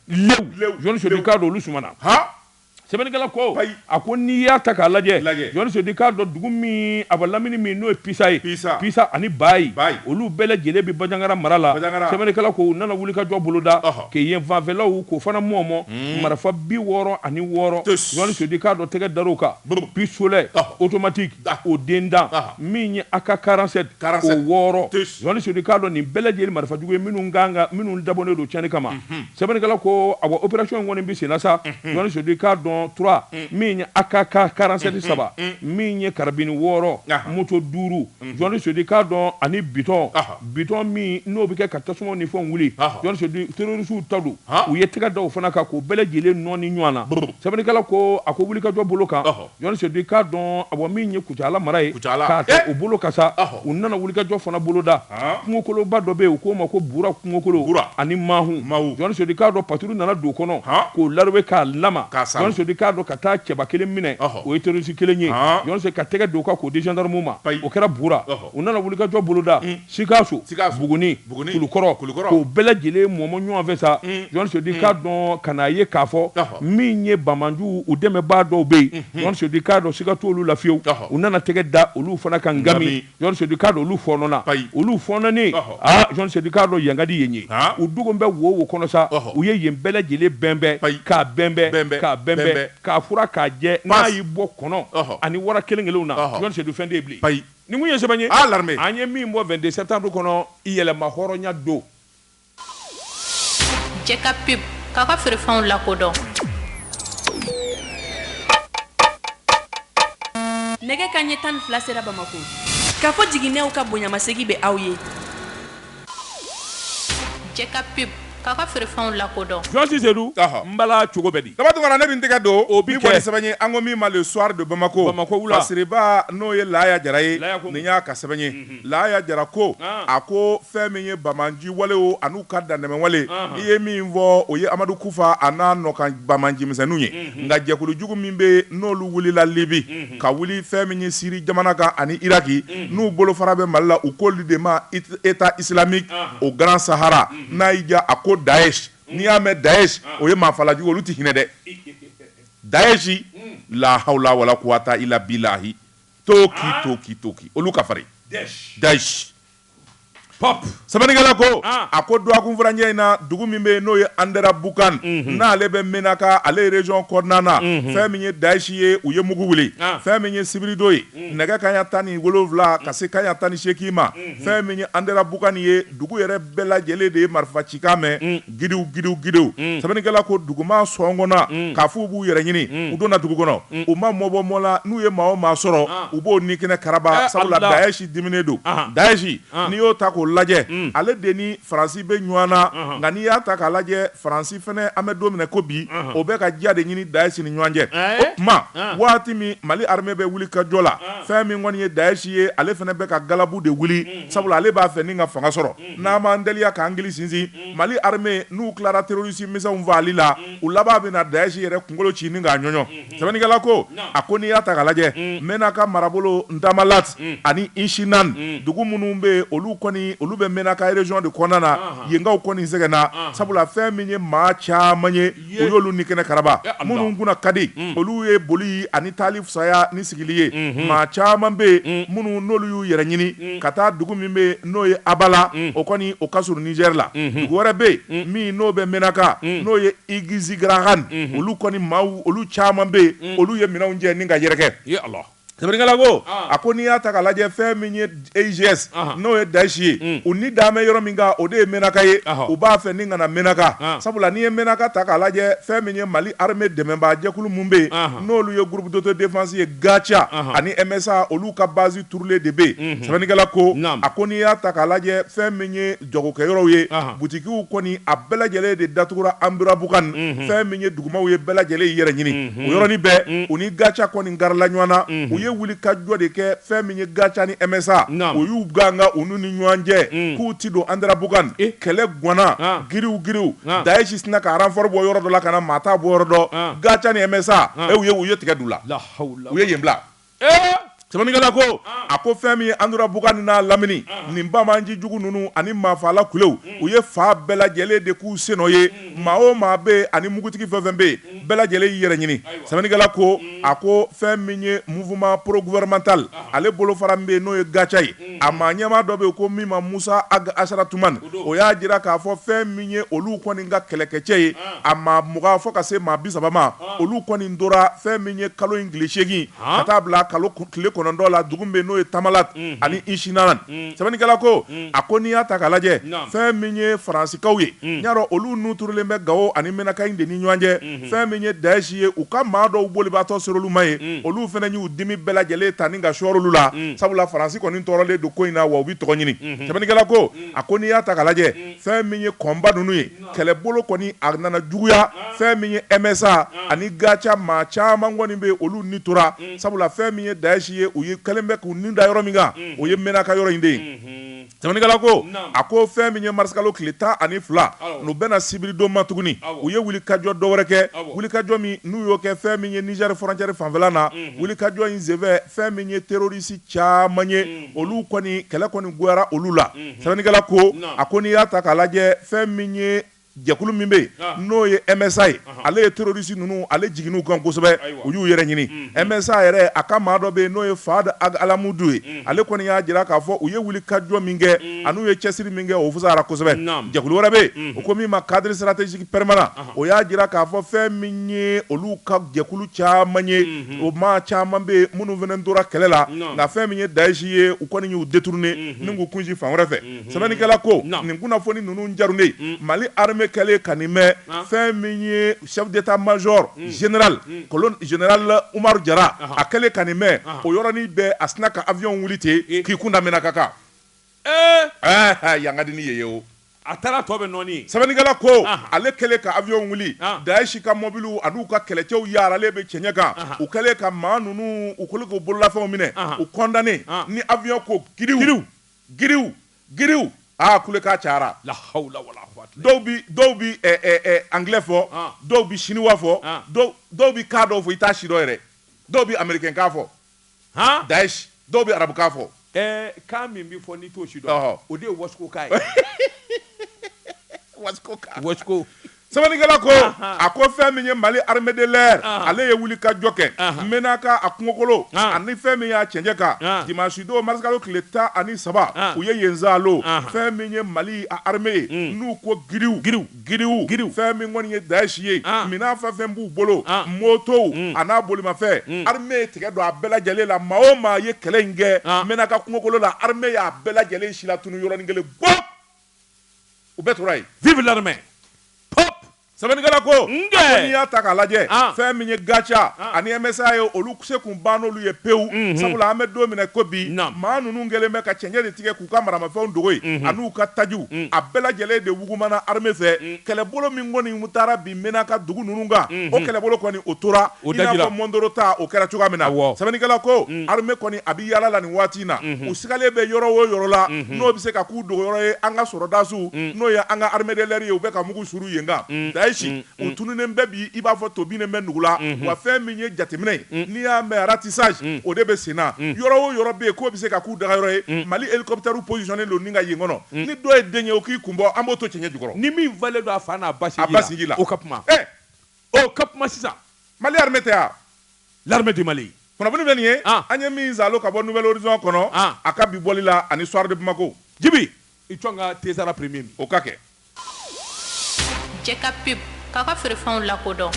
jɔn sodi k'a dɔn olu sumana sɛbɛnnikɛla ko ayi a ko n'i y'a ta k'a lajɛ lajɛ jɔni sodi k'a dɔn dugu minnu b'a lamini min n'o ye pisa ye pisa pisa ani bayi bayi olu bɛɛ lajɛlen bɛ bajangara mara la bajangara sɛbɛnnikɛla ko u nana wulikajɔ boloda ɔhɔ kɛ yen fanfɛlaw k'o fana mɔɔmɔ hmm. marifa bi wɔɔrɔ ani wɔɔrɔ jɔni sodi k'a dɔn tɛgɛ dar'o kan pistolet automatique o den dan min ye aka 47 o wɔɔrɔ Jɔni Sodi k'a dɔn nin bɛɛ lajɛlen marifa jugu ye minnu kan ka minnu dabɔnen don tiɲɛni kama. Sɛbɛnnikɛla ko, Awa, operation in kɔni bɛ senna sa. Jɔni Sodi k'a dɔn trois min ye AK 47 saba, min ye karabini wɔɔrɔ, moto duuru. Jɔni Sodi k'a dɔn ani bitɔn, bitɔn min n'o bɛ kɛ ka tasumaw ni fɛnw wuli. Zuwani Sudi, terorisiw ta don. U ye tɛgɛ da o fana kan k'o bɛɛ lajɛlen nɔɔni ɲɔgɔn na. Sɛbɛnnikɛla ko, A ko wulikajɔ bolo kan, Jɔn Seyidu k'a dɔn a bɔ min ye Kucala mara ye k'a ta o bolo kan sa u nana wulikajɔ fana boloda kungokoloba dɔ bɛ yen u k'o ma ko Bura kungokolo ani Mahu Jɔn Seyidu k'a dɔn patrouille nana don kɔnɔ k'o larowe k'a lama Jɔn Seyidu k'a dɔn ka taa cɛba kelen minɛ o ye terroriste kelen ye Jɔn Seyidu ka tɛgɛ d'o kan k'o di gendarme ma o kɛra Bura U nana wulikajɔ boloda sikaso Buguni Kulukɔrɔ k'u bɛɛ lajɛlen mɔmɔ ɲɔgɔn fɛ sa Jɔn Seyidu k'a dɔn ka n'a ye k'a fɔ min ye banbaanciw dɛmɛbaa dɔw bɛ yen Jɔn Seyidu k'a dɔn siga t'olu la fiyewu u nana tɛgɛ da olu fana kan ngami Jɔn Seyidu k'a dɔn olu fɔɔnɔna olu fɔɔnɔnen Jɔn Seyidu k'a dɔn yankadi ye ye u dogo bɛ wo wo kɔnɔ sa u ye yen bɛɛ lajɛlen bɛnbɛn ka bɛnbɛn ka bɛnbɛn k'a furan k'a jɛ n'a y'i bɔ kɔnɔ ani wara kelen kelenw na Jɔn Seyidu fɛn tɛ Nin tun ye sɛbɛn ye, l'armée, an ye min bɔ 22 septembre kɔnɔ yɛrɛmahɔrɔnya don. Jɛka pub k'aw ka feerefɛnw lakodɔn. Nɛgɛ kaɲɛ tan ni fila sera Bamako. Kafo Jiginɛw ka bonyamasegin bɛ aw ye. Jɛka pub k'aw ka feerefɛnw lakodɔn Jɔn Seyidu n bala cogo bɛ di Daba Tunkara ne bɛ tɛgɛ don o bi kɛ sɛbɛn ye an ko min ma Le Soir de Bamako wula Siriba n'o ye Laya Jara ye nin y'a ka sɛbɛn ye Laya Jara ko a ko fɛn min ye banbaanci walew an'u ka dantɛmɛwale i ye min fɔ o ye amadu kufa a n'a nɔkan banbaanci misɛnninw ye nka jɛkulujugu min bɛ n'olu wulila libi ka wuli fɛn min ye siri jamana kan ani iraki n'u bolofara bɛ mali la u k'olu de ma État islamique au Grand Sahara n'a y'i diya a ko Daesh n'i y'a mɛn Daesh o ye maafalajugu olu tɛ hinɛ dɛ Daesh lahawula wala kuwata ila bilahi toki toki toki olu ka farin Daesh Sɛbɛnnikɛla ko a ko dɔgɔkun furancɛ in na dugu min bɛ yen n'o ye Andera Bukan n'ale bɛ Menaka ale ye région kɔnɔna na fɛn min ye Daesh ye u ye mugu wuli fɛn min ye sibiridon ye nɛgɛ kaɲɛ tan ni wolowula ka se kaɲɛ tan ni seegin ma fɛn min ye Andera Bukan ye dugu yɛrɛ bɛɛ lajɛlen de ye marifa cikan mɛn gidiw gidiw gidiw sɛbɛnnikɛla ko dugumaa sɔn kɔnna k'a f'u b'u yɛrɛ ɲini u donna dugu kɔnɔ u ma mɔ bɔ mɔ la n'u ye maa o maa sɔrɔ u b'o ni kɛnɛ karaba sabula Daesh diminen don Daesh n'i y'o ta k'o lajɛ ale de ni faransi bɛ ɲɔgɔn na nka n'i y'a ta k'a lajɛ faransi fɛnɛ an bɛ don min na ko bi o bɛ ka diya de ɲini Daesh ni ɲɔgɔn cɛ o tuma waati min mali armée bɛ wuli ka jɔ la fɛn min kɔni ye Daesh ye ale fɛnɛ bɛ ka galabu de wuli sabula ale b'a fɛ ni ka fanga sɔrɔ n'an m'an teliya k'an hakili sinsin Mali armée n'u tilara terroriste misɛnw fagali la, u laban bɛna Daesh yɛrɛ kunkolo ci ni k'a ɲɔɲɔ. Sɛbɛnnikɛla ko, A ko n'i y'a ta k'a lajɛ, Menaka marabolo Ntamallat ani Inshinan, dugu minnu bɛ yen, olu kɔni olu bɛ Menaka région de kɔnɔna na, yenkaw kɔni sɛgɛnna, sabula fɛn min ye maa caman ye, u y'olu ni kɛnɛ karaba minnu kunna ka di olu ye boli ani taali fisaya ni sigili ye maa caman bɛ yen minnu n'olu y'u yɛrɛ ɲini ka taa dugu min bɛ n'o ye Abala o kɔni o ka surun Nizɛri la dugu wɛrɛ bɛ yen min n'o bɛ Menaka n'o ye Igizigarahan olu kɔni maaw olu caman bɛ yen olu ye minɛnw cɛ ni ka yɛrɛkɛ Sɛbɛnnikɛla ko a ko n'i y'a ta k'a lajɛ fɛn min ye EIGS n'o ye Daesh ye u ni dalen bɛ yɔrɔ min kan o de ye Menaka ye u b'a fɛ ni ka na Menaka sabula n'i ye Menaka ta k'a lajɛ fɛn min ye Mali armée dɛmɛbaa jɛkulu minnu bɛ yen n'olu ye groupe d'autodéfense ye gaca ani MSA olu ka basi turulen de bɛ yen sɛbɛnnikɛla ko a ko n'i y'a ta k'a lajɛ fɛn min ye jagokɛyɔrɔw ye butigiw kɔni a bɛɛ lajɛlen de datugura Anderabukan fɛn min ye dugumaw ye bɛɛ lajɛlen y'i yɛrɛ ɲini o yɔrɔnin bɛɛ u ni gaca kɔni garila ɲɔgɔn na u ye wulikajɔ de kɛ fɛn min ye gaca ni msa u y'u gangan u ni ɲɔgɔn cɛ k'u ti don Anderabukan kɛlɛ gwanna giriw giriw Daesh sinna ka ranfɔri bɔ yɔrɔ dɔ la ka na maa t'a bɔyɔrɔ dɔn gaca ni msa u ye u ye tigɛ du la u ye yen bila Sɛbɛnnikɛla ko, an, a ko fɛn min ye Anderabukan ni n'a lamini, an, nin banbaanci jugu ninnu ani maafaala kulew, u ye fan bɛɛ lajɛlen de k'u sennɔ ye, maa o maa bɛ yen ani mugutigi fɛn o fɛn bɛ yen, bɛɛ lajɛlen y'i yɛrɛ ɲini. Sɛbɛnnikɛla ko, a ko fɛn min ye mouvement pro-gouvernemental ale bolofara min bɛ yen n'o ye GACA ye, a maa ɲɛmaa dɔ bɛ yen ko min ma Musa Ag Asaratuman o y'a jira k'a fɔ fɛn min ye olu kɔni ka kɛlɛkɛcɛ ye a maa mugan fɔ ka se maa bi saba ma olu kɔni tora fɛn min ye kalo in tile seegin ka taa bila kalo tile kɔnɔntɔn la dugu bɛ n'o ye Tamalat ani Inshinanan sɛbɛnnikɛla ko a ko n'i y'a ta k'a lajɛ fɛn min ye faransikaw ye n'i y'a dɔn olu n'u turulen bɛ gawo ani Menaka in de ni ɲɔgɔn cɛ fɛn min ye dayisi ye u ka maa dɔw bolibaatɔ ser'olu ma yen olu fana y'u dimi bɛɛ lajɛlen ta ni ka sɔr'olu la sabula faransi kɔni tɔɔrɔlen don ko in na wa u bɛ tɔgɔ ɲini sɛbɛnnikɛla ko a ko n'i y'a ta k'a lajɛ fɛn min ye kɔnba ninnu ye kɛlɛbolo kɔni a nana juguya fɛn min ye MSA ani gaca maa caman kɔni bɛ olu ni tora sabula fɛn min ye dayisi ye u ye kɛlen bɛ k'u ni da yɔrɔ min kan o ye Menaka yɔrɔ in de ye Sɛbɛnnikɛla ko, naamu, a ko fɛn min ye marisikalo tile tan ani fila, awɔ, n'o bɛnna sibiridon ma tuguni, awɔ, u ye wulikajɔ dɔ wɛrɛ kɛ, awɔ, wulikajɔ min n'u y'o kɛ fɛn min ye Nizɛri fɔrɔncɛri fanfɛla na, unhun, wulikajɔ in senfɛ fɛn min ye terorisi caman ye, unhun, olu kɔni kɛlɛ kɔni goyara olu la, unhun, sɛbɛnnikɛla ko, naamu, a ko n'i y'a ta k'a lajɛ fɛn min ye Jɛkulu min bɛ yen n'o ye MSA ye ale ye terroriste ninnu ale jiginn'u kan kosɛbɛ u y'u yɛrɛ ɲini MSA yɛrɛ a ka maa dɔ bɛ yen n'o ye Faad Ag Alamudu ye ale kɔni y'a jira k'a fɔ u ye wulikajɔ min kɛ an'u ye cɛsiri min kɛ o fusayara kosɛbɛ jɛkulu wɛrɛ bɛ yen u ko min ma cadre stratégique permanent o y'a jira k'a fɔ fɛn min ye olu ka jɛkulu caman ye o maa caman bɛ yen minnu fana tora kɛlɛ la nka fɛn min ye Daesh ye u kɔni y'u détourner ni k'u kunsin fan wɛrɛ fɛ. sɛbɛnnikɛla ko nin kunnafoni ninnu jarunen mali armée kɛlen ka nin mɛn fɛn min ye chef d'état-major général général umaru jara a kɛlen ka nin mɛn o yɔrɔnin bɛɛ a sina ka avion wuli ten k'i kun da menaka kan ɛɛ yangaden ye ye o a taara tɔ bɛ nɔɔni sɛbɛnnikɛla ko ale kɛlen ka avion wuli daesh ka mɔbili an'u ka kɛlɛcɛw yaaralen bɛ cɛɲɛ kan u kɛlen ka maa ninnu u kɛlen k'u bololafɛnw minɛ u kɔndannen ni avion ko kiw Giriw giriw aa kulekan cayara. La hawula wala kuwata. Dɔw bi dɔw bi ɛ ɛ ɛ anglais fɔ. An. Dɔw bi chinois fɔ. An. Dɔw dɔw bi kan dɔw fɔ i t'a si dɔn yɛrɛ. Dɔw bi américain kan fɔ. Han. Daesh dɔw bi arabu kan fɔ. Ɛɛ kan min bi fɔ n'i t'o si dɔn. Ɔhɔ. O de ye wasiko kan ye. Wasiko kan. Wasiko. Sɛbɛnnikɛla ko, anhan, a ko fɛn min ye Mali armée de l'air anhan, ale ye wuli ka jɔ kɛ, anhan, Menaka a kungokolo, an, ani fɛn min y'a cɛncɛn kan, an, dimanche don mars kalo tile tan ani saba, an, u ye yen saalo, anhan, fɛn min ye Mali a armée ye, un, n'u ko giriw, giriw, giriw, giriw, fɛn min kɔni ye Daesh ye, an, minɛn fɛn o fɛn b'u bolo, an, motow, un, a n'a bolimafɛn, un, armée ye tigɛ don a bɛɛ lajɛlen la, maa o maa ye kɛlɛ in kɛ, an, Menaka kungokolo la, armée y'a bɛɛ lajɛlen silatunu yɔrɔnin kelen, bɔp! u bɛɛ tora yen vive l'armée pop sɛbɛnnikɛla ko n'i y'a ta k'a lajɛ ah. fɛn min ye gatia ah. ani msa ye olu se kun bann'olu ye pewu mhm. sabula an bɛ don min i ko bi maa ninnu kɛlen bɛ ka cɛncɛn de tigɛ k'u ka maramafɛnw dogo yen mhm. an'u ka tajiw mm. a bɛɛ lajɛlen de wugumana armée fɛ mm. kɛlɛbolo min kɔni taara bi menaka dugu ninnu kan o kɛlɛbolo kɔni o tora i n'a fɔ mɔndoro ta o kɛra cogoya min na sɛbɛnnikɛla ko armée kɔni a bɛ yaala la nin waati in na u sigalen bɛ yɔrɔ o yɔrɔ la n'o bɛ se ka k'u dogo yɔrɔ ye an ka sɔrɔdasiw n'o ye an ka armée de l'air ye u bɛ ka mugu suru yen kan daesh u tununnen bɛ bi i b'a fɔ to bin bɛ dugu la wa fɛn min ye jateminɛ ye n'i y'a mɛn ratissage o de bɛ senna yɔrɔ o yɔrɔ bɛ yen k'o bɛ se ka k'u dagayɔrɔ ye mali hélicoptère positionné don ka yen kɔnɔ Hmm. Ni dɔ ye den ye o k'i kun bɔ an b'o to cɛɲɛ jukɔrɔ. Ni min falen don a fa n'a ba sinji la. A ba sinji la. O ka kuma. Ɛ! O ka kuma sisan. Mali armée tɛ a? L'armée du Mali. Kunnafoni filɛ nin ye. An! An ye min zaalo ka bɔ Nouvel Horizon kɔnɔ. An! A ka bi bɔli la ani Soir de Bamako. Jibi! I jɔ n ka Tezara premier min. O ka kɛ. Jɛ ka pub, k'aw ka feerefɛnw lakodɔn.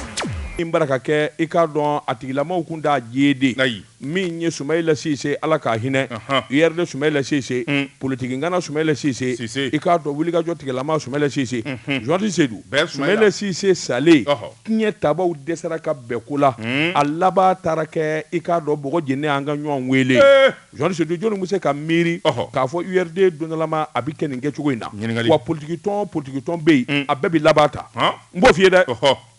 Min baara ka kɛ, i k'a dɔn a tigilamaw kun t'a jeede. Ayi. min ye Sumayila Sise Ala k'a hinɛ, anhan, URD Sumayila Sise, un, politiki ŋana Sumayila Sise, Sise, i k'a dɔn wulikajɔ tigilama Sumayila Sise, unhun, Journaliste Sedu, bɛn Sumayila, Sumayila Sise salen, ɔhɔ, tiɲɛtabaaw dɛsɛra ka bɛn ko la, un, a laban taara kɛ i k'a dɔn bɔgɔ jeninen an ka ɲɔgɔn weele, ee, Journaliste Sedu jɔni bɛ se ka miiri, ɔhɔ, k'a fɔ URD dondɔlama a bɛ kɛ nin kɛcogo in na, ɲininkali, wa politikitɔn o politikitɔn bɛ yen, un, a bɛɛ bɛ laban tan, han, n b'o f'i ye dɛ, ɔhɔ.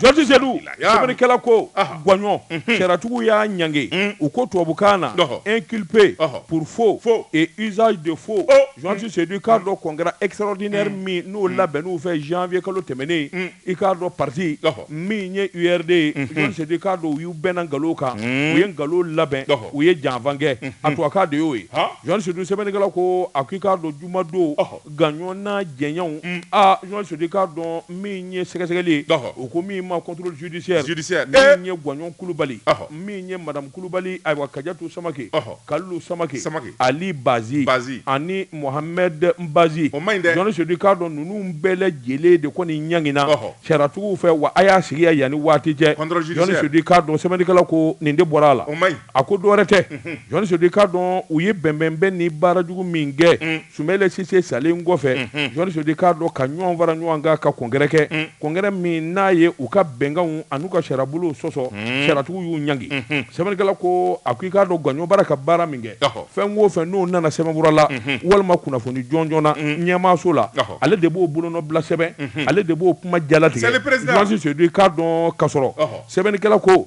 Jati sedu sarikɛla ko gɔnɔn cɛtigiw y'a ɲge u ko tubabubukan na e kipe purfo fozali de fo jɔnti sedu k'a dɔn kɔn kɛra esrɔdinare min n'o labɛn n'u fɛ zfiye kalo tɛmɛnen i k'a dɔn pati min ye u yɛrɛ de yesedi k'a don u y'u bɛnna nkalon kan u ye nkalon labɛn u ye janfankɛ a tubabu ka de y'o ye jɔn sedu sɛbɛnnikɛla ko a k'i k'a don juma don Gouagnon n'a jɛɲɔgɔnw, un, aa Journaliste Seydou k'a dɔn min ye sɛgɛsɛgɛli ye, ɔhɔ, u ko min ma contrôle judiciaire, judiciaire, ee, min ye Gouagnon Kulubali, ɔhɔ, min ye Madame Kulubali, ayiwa Kajatu Samake, ɔhɔ, Kalilu Samake, Samake, Ali Bazi, Bazi, ani Mohamɛd Mbazi, o ma ɲi dɛ, Journaliste Seydou k'a dɔn ninnu bɛɛ lajɛlen de kɔni ɲangina, ɔhɔ, sariyatigiw fɛ wa a y'a sigiya yanni waati cɛ, contrôle judiciaire, Journaliste Seydou k'a dɔn sɛbɛnnikɛla ko nin de bɔra a la, o ma ɲi, a ko dɔ wɛrɛ tɛ, unhun, Journaliste Seydou k'a dɔn u ye bɛnbɛnbɛn ni baara jugu min kɛ, un. Soumaïla Cissé salen kɔfɛ, unhun, Journaliste Seydou k'a dɔn ka ɲɔgɔn fara ɲɔgɔn kan ka congrès kɛ, un, congrès min n'a ye u ka bɛnkanw an'u ka sariyabolow sɔsɔ, un, sariyatigiw y'u ɲangi, unhun, sɛbɛnnikɛla ko a ko i k'a dɔn Gouagnon bara ka baara min kɛ, ɔhɔ, fɛn o fɛn n'o nana sɛbɛnfura la, unhun, walima kunnafoni jɔnjɔn na, un, ɲɛmaaso la, ɔhɔ, ale de b'o bolonɔbila sɛbɛn, unhun, ale de b'o kuma jalatigɛ, Monsieur le Président, Journaliste Seydou k'a dɔn kasɔrɔ, ɔhɔ, sɛbɛnnikɛla ko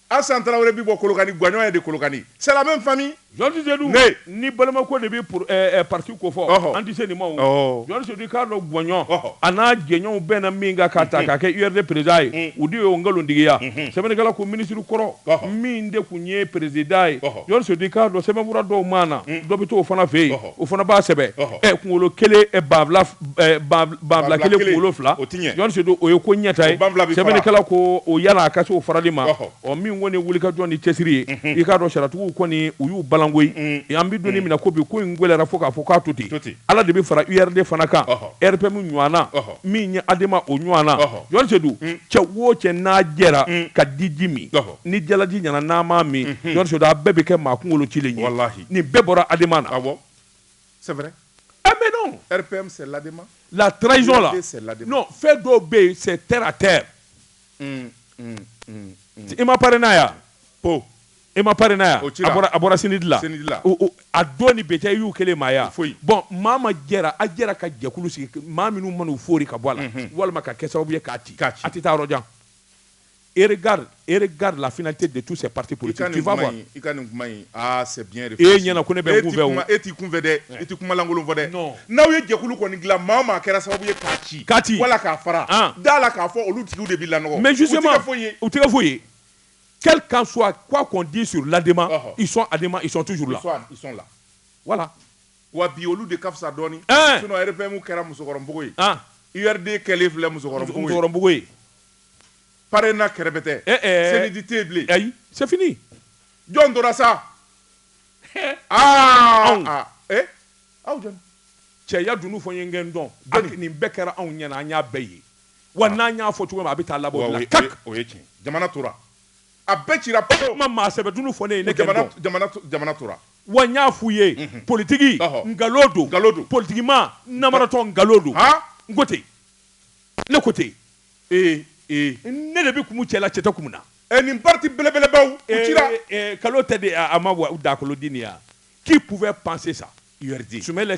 Asan tarawele bɛ bɔ kolokani gajɔ ye de kolokani sami fami ni balima de bɛ pati ko fɔ an tɛ se nin ma jɔn k'a dɔn gɔyɔn a n'a gɛnw bɛɛ na min kan ka ta ka kɛ u yɛrɛ perezd ye u de ye nkalontigiya sɛbɛnnikɛla ko minisiriri kɔrɔ min de tun ye perezd ye jɔn k'a dɔn sɛbɛnkura dɔw mana na dɔ bɛ to o fana fɛ yen o fana b'a sɛbɛn kunkolo kelen banfula kelen kunkolo fila Journaliste Seydou o ye ko ɲɛta ye sɛbɛnnikɛla ko o yala a ka se o farali ma ɔ min kɔni ye wulikajɔ ni cɛsiri ye i k'a dɔn sariyatigiw kɔni u y'u balan ko an bɛ don min na ko bi ko in gɛlɛyara fo k'a fɔ k'a to ten ala de bɛ fara URD fana kan RPM ɲɔgɔnna min ye ADEMA o ɲɔgɔnna Journaliste Seydou cɛ wo cɛ n'a jɛra ka diji min ni jalaji ɲɛna n'a ma min a bɛɛ bɛ kɛ maa kunkolo ci nin bɛɛ bɔra ADEMA na c'est vrai mais non RPM c'est l'ADEMA la trahison là non fɛn dɔw bɛ yen c'est terre à terre i ma PARENA ye ko i ma PARENA ye o ci a bɔra CNID la a dɔn ni bɛɛcɛ y'u kelen maaya foyi bon maa ma jɛra a jɛra ka jɛkulu sigi maa minnu man'u fori ka bɔ a la walima ka kɛ sababu ye k'a ci a tɛ taa yɔrɔ jan Et regarde, regarde la finalité de tous ces partis politiques ka nin kuma i ka nin kuma in aa c'est e ɲɛna ko ne bɛ n kunfɛ e t'i kunfɛ dɛ e tɛ kumalankolon fɔ dɛ n'aw ye jɛkulu kɔni dilan maa o maa kɛra sababu ye k'a ci ka ci wala k'a fara da la k'a fɔ olu tigi de b'i lanɔgɔ mais justement u tɛ foyi ye quel qu'en soit quoi qu'on dit sur l'ADEMA ils sont ADEMA ils sont toujours là ils sont là voilà wa bi olu de ka fisa dɔɔnin sinon RPM kɛra musokɔrɔbabugu ye URD kɛlen filɛ musokɔrɔbabugu ye PARENA kɛrɛbɛtɛ eh, eh. CNID tɛ bilen ayi c'est fini jɔn tora sa eh. ah, anw ah, eh aw jɔn cɛya dunun fɔ n ye n ka n dɔn jɔni nin bɛɛ kɛra anw ɲɛna an y'a bɛɛ ye wa ah. n'an y'a fɔ cogo min a bɛ taa laban o la kak o ye tiɲɛ jamana tora a bɛɛ cira pewu kuma maa sɛbɛ dunun fɔ ne ye ne ka n dɔn jamana jamana tora wa n y'a f'u ye mhm. politiki nkalon don nkalon don politikimaa namaratɔ nkalon don n ko ten ne ko ten ne de bɛ kun cɛla cɛ kun na ɛ nin pati bɛlɛbelebaw kalo tɛ de a ma wa dakoloden yan k'i kun bɛ panse sa sɛbɛ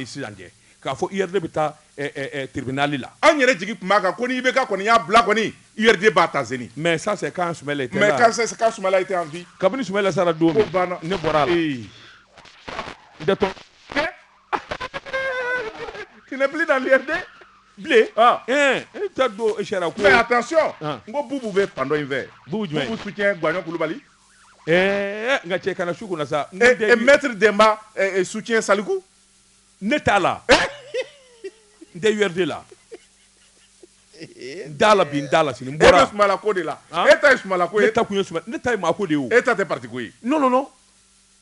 sisan cɛ k'a fɔ i yɛrɛ bɛ taa tibiinali la an yɛrɛ jigin tun b'a kan ko n'i bɛ ka kɔni y'a bila kɔni i b'a ta z mɛ sa k' kabini sɛbɛnbɛ sara don ne bɔra Tɛnɛnpli da lajɛde bilen e ta don e sariya ko a taa so n ko bubu bɛ pandɔ in fɛ bu jumɛn su cɛ gajɔ kulubali ɛɛ nka cɛ kana su kunna sa mɛtiri denba su tiɲɛ saliku ne t'a la n tɛ wɛrɛ de la da la bin da la sini bɔra sula ko de la e ta sula ko e ta kun ye ne ta maa ko de e ta tɛ patiko ye n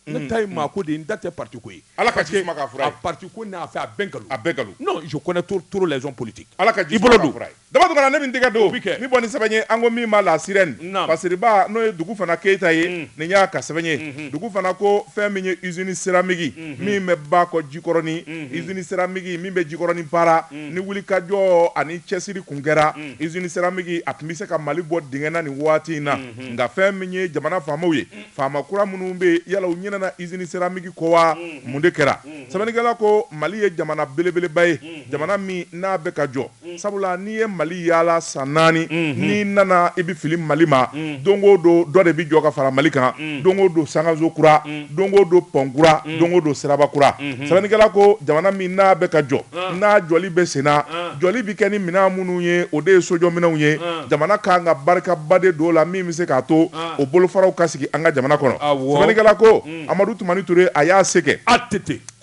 ne mm-hmm. ta ye maa ko de ye n ta tɛ parti ko ye ala ka ji suma k'a fura ye parti ko n'a fɛ a bɛɛ nkalon a bɛɛ nkalon non je connais trop trop les hommes politiques ala ka ji suma k'a fura ye dama dugana ne bɛ n tɛgɛ don n bɛ bɔ ni sɛbɛn ye an ko min ma La Sirène pasiriba n'o ye Dugufana Keyita ye mm. nin y'a ka sɛbɛn ye mm-hmm. Dugufana ko fɛn min ye usine céramique mm-hmm. min bɛ ba kɔ jikɔrɔni mm-hmm. usine céramique min bɛ jikɔrɔni baara mm. ni wulikajɔ ani cɛsiri tun kɛra mm. usine céramique a tun bɛ se ka mali bɔ dingɛ na nin waati in na nka fɛn min ye jamana faamaw ye Faama kura minnu bɛ yen yala u ɲinɛna usine céramique kɔ wa? Mun de kɛra? Sɛbɛnnikɛla ko Mali ye jamana belebeleba ye, jamana min n'a bɛ ka jɔ. Sabula n'i ye Mali yaala san naani, n'i nana i bɛ fili Mali ma, don o don dɔ de bɛ jɔ ka fara Mali kan, don o don sankanso kura, don o don pont kura, don o don siraba kura. Sɛbɛnnikɛla ko jamana min n'a bɛ ka jɔ, n'a jɔli bɛ senna, jɔli bɛ kɛ ni minɛn minnu ye, o de ye sojɔminɛnw ye. Jamana ka kan ka barikaba de don o la min bɛ se k'a to o bolofaraw ka sigi an ka jamana kɔnɔ sɛbɛnnikɛla ko amadu tumani ture a y'a se kɛ att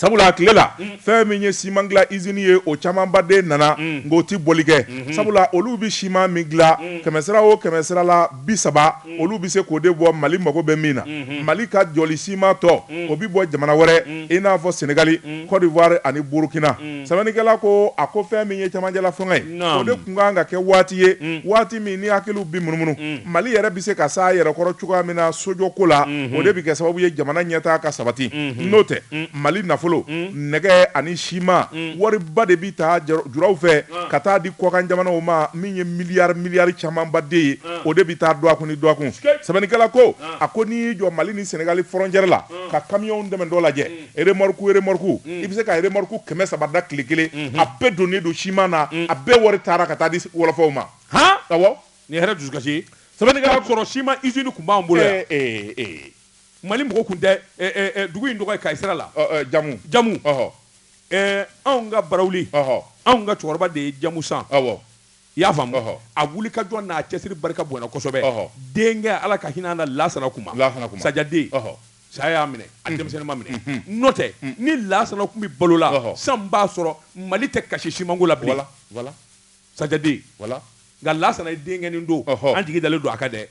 sabula a tile la fɛn min ye siman dila izini ye o camanba de nana nk'o tɛ bɔli kɛ sabula olu bɛ siman min dila kɛmɛ sira o kɛmɛ sira la bi saba olu bɛ se k'o de bɔ mali mago bɛ min na mali ka jɔli siman tɔ o bɛ bɔ jamana wɛrɛ i n'a fɔ sɛnɛgali kɔdiwari ani burukina sɛbɛnnikɛla ko a ko fɛn min ye camancɛla fanga ye o de tun kan ka kɛ waati ye waati min ni hakiliw bɛ munumunu mali yɛrɛ bɛ se ka s'a yɛrɛ kɔrɔ cogoya min na sojɔ ko la o de bɛ kɛ sababu ye jamana ɲɛtaa ka sabati n'o tɛ mali nafolo nɛgɛ ani siman wariba de bɛ taa juraw fɛ ka taa di kɔkan jamanaw ma min ye miliyari miliyari camanba de ye o de bɛ taa dɔgɔkun ni dɔgɔkun sɛbɛnnikɛla ko a ko n'i y'i jɔ mali ni sɛnɛgali frontière la ka kamiyɔn damadɔ lajɛ remorque remorque i bɛ se ka remorque kɛmɛ saba dan tile kelen a bɛɛ donnen don siman na a bɛɛ wari taara ka taa di wɔlɔfɔw ma han awɔ nin ye hɛrɛ dusukasi ye sɛbɛnnikɛla k'a sɔrɔ siman usine tun b'an bolo yan ee ee mali mɔgɔ tun tɛ dugu in tɔgɔ ye kayi sira la jamu jamu ɔhɔ anw ka barawuli ɔhɔ anw ka cɛkɔrɔba de ye jamu san awɔ i y'a faamu ɔhɔ a wuli ka jɔ n'a cɛsiri barika bonyana kosɛbɛ ɔhɔ denkɛ ala ka hinɛ an na lasana kuma lasana kuma sajaden ɔhɔ Saya y'a minɛ a denmisɛnnin ma minɛ n'o tɛ ni lasana tun bɛ balo la ɔhɔ sisan b'a sɔrɔ Mali tɛ kasi simanko la bilen voilà voilà sajaden voilà nka lasana ye denkɛnin don ɔhɔ an jigi dalen don a kan dɛ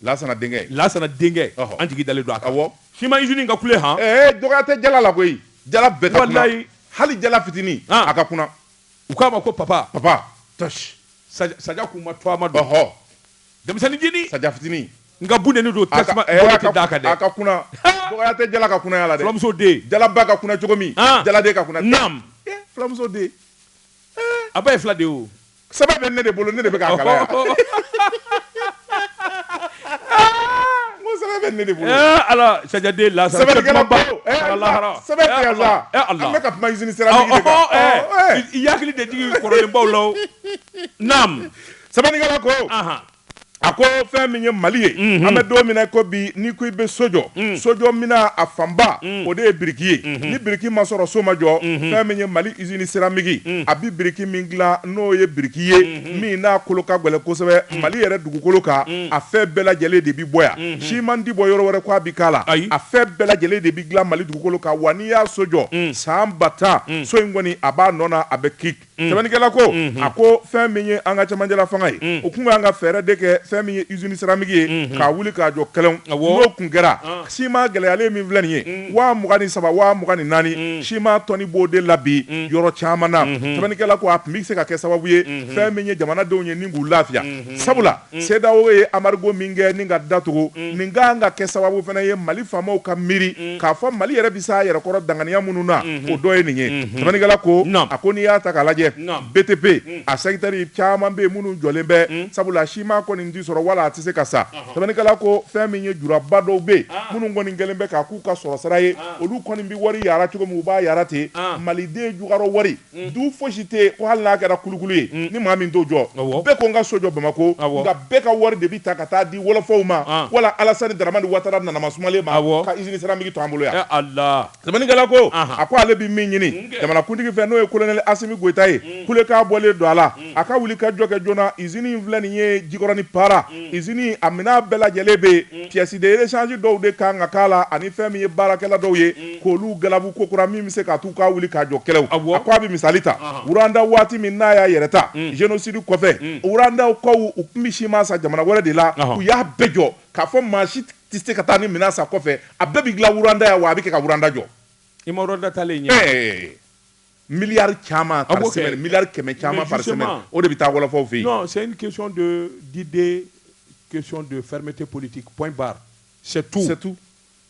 lasana denkɛ lasana denkɛ ɔhɔ an jigi dalen don a kan awɔ siman usine in ka kule han ee dɔgɔya tɛ jala la koyi jala bɛɛ ka kuna walayi hali jala fitinin a ka kuna u k'a ma ko papa papa tɔsi saja saja kuma tɔgɔma don ɔhɔ denmisɛnnin jinin saja fitinin nka bunteni don tasuma tɛ d'a kan dɛ a ka kuna dɔgɔya tɛ jala ka kunaya la dɛ filamuso den jalaba ka kuna cogo min jaladen ka kuna naam filamuso den a ba ye fila de o sɛbɛn bɛ ne de bolo ne de bɛ bɛ ne de bolo ala sajaden lasana sɛbɛn tɛ sa an bɛ ka kuma usine siramiki de kan i y'an hakili de jigin kɔrɔlenbaw la sɛbɛnnikɛla ko a ko fɛn min ye mali ye mhm. an bɛ don min na ko bi ni ko i bɛ so jɔ mhm. sojɔ minan a fanba mhm. o de ye biriki ye ni biriki ma sɔrɔ so ma jɔ fɛn min ye mali izini siramiki a bɛ biriki min dila n'o ye biriki ye min n'a kolo ka gɛlɛn kosɛbɛ mali yɛrɛ dugukolo kan a fɛn bɛɛ lajɛlen de bɛ bɔ yan siman tɛ bɔ yɔrɔ wɛrɛ ko a bɛ k'a la a fɛn bɛɛ lajɛlen de bɛ dilan mali dugukolo kan wa n'i y'a so jɔ san ba tan so in kɔni a b'a nɔ na a bɛ ki Mm. Sɛbɛnnikɛla ko mm-hmm. a ko fɛn min ye an ka cɛmancɛla fanga ye mm. o kun kan ka fɛɛrɛ de kɛ fɛn min ye usine siramiki ye mm-hmm. k'a wuli k'a jɔ kɛlɛn n'o kun kɛra ah. siman gɛlɛyalen min filɛ nin ye mm. waa mugan ni saba waa mugan ni naani siman tɔni b'o de la bi yɔrɔ caman na mm-hmm. sɛbɛnnikɛla ko a tun bɛ se ka kɛ sababu ye fɛn min ye jamanadenw ye ni k'u lafiya sabula mm. CEDEAO ye embargo min kɛ ni ka datugu mm. nin ka kan ka kɛ sababu fana ye Mali faamaw ka miiri mm. k'a fɔ Mali yɛrɛ bɛ s'a yɛrɛ kɔrɔ danganiya minnu na mm-hmm. o dɔ ye nin ye mm-hmm. sɛbɛnnikɛla ko a ko n'i y'a ta k'a lajɛ BTP a sɛkitɛri caman bɛ yen minnu jɔlen bɛ sabula siman kɔni tɛ sɔrɔ wala a tɛ se ka san uh-huh. sɛbɛnnikɛla ko fɛn min ye juraba dɔw bɛ yen ah. minnu kɔni kɛlen bɛ k'a k'u ka sɔrɔsira ye ah. olu kɔni bɛ wari yara cogo min u b'a yara ten ah. Maliden jukɔrɔ wari Mm. du fosi tɛ ko hali n'a kɛra kulukulu ye mm. ni maa min t'o jɔ bɛɛ ko n ka so jɔ bamako nka bɛɛ ka wari de bi ta ka taa di wɔlɔfɔw ma ah. wala alasani daramani watara nanama sumalen ma ka izini seramiki to an bolo yan sɛbɛnnikɛla ko a ko ale bi min ɲini jamanakuntigi fɛ n'o ye kolonɛli asimi goyita ye mm. kulekan bɔlen don a la a ka wuli ka jɔ kɛ joona izini in filɛ nin ye jikɔrɔni para izini a minɛn bɛɛ lajɛlen bɛ yen pièces de rechange dɔw de kan ka k'a la ani fɛn min ye baarakɛla dɔw ye k'olu galabu kokura min bɛ se ka t'u ka wuli ka jɔ kɛlɛw a ko a bɛ misali ta wuranda waati min n'a y'a yɛrɛ ta génocide kɔfɛ wurandakaw u tun bɛ siman san jamana wɛrɛ de la u y'a bɛɛ jɔ k'a fɔ maa si tɛ se ka taa ni minɛn san kɔfɛ a bɛɛ bɛ dilan wuranda yan wa a bɛ kɛ ka wuranda jɔ i ma wuranda talen ye Miliyari caman miliyari kɛmɛ caman par semaine o de bɛ taa wɔlɔfɔw fɛ yen c'est une question de d'idée question de fermeté politique point barre c'est tout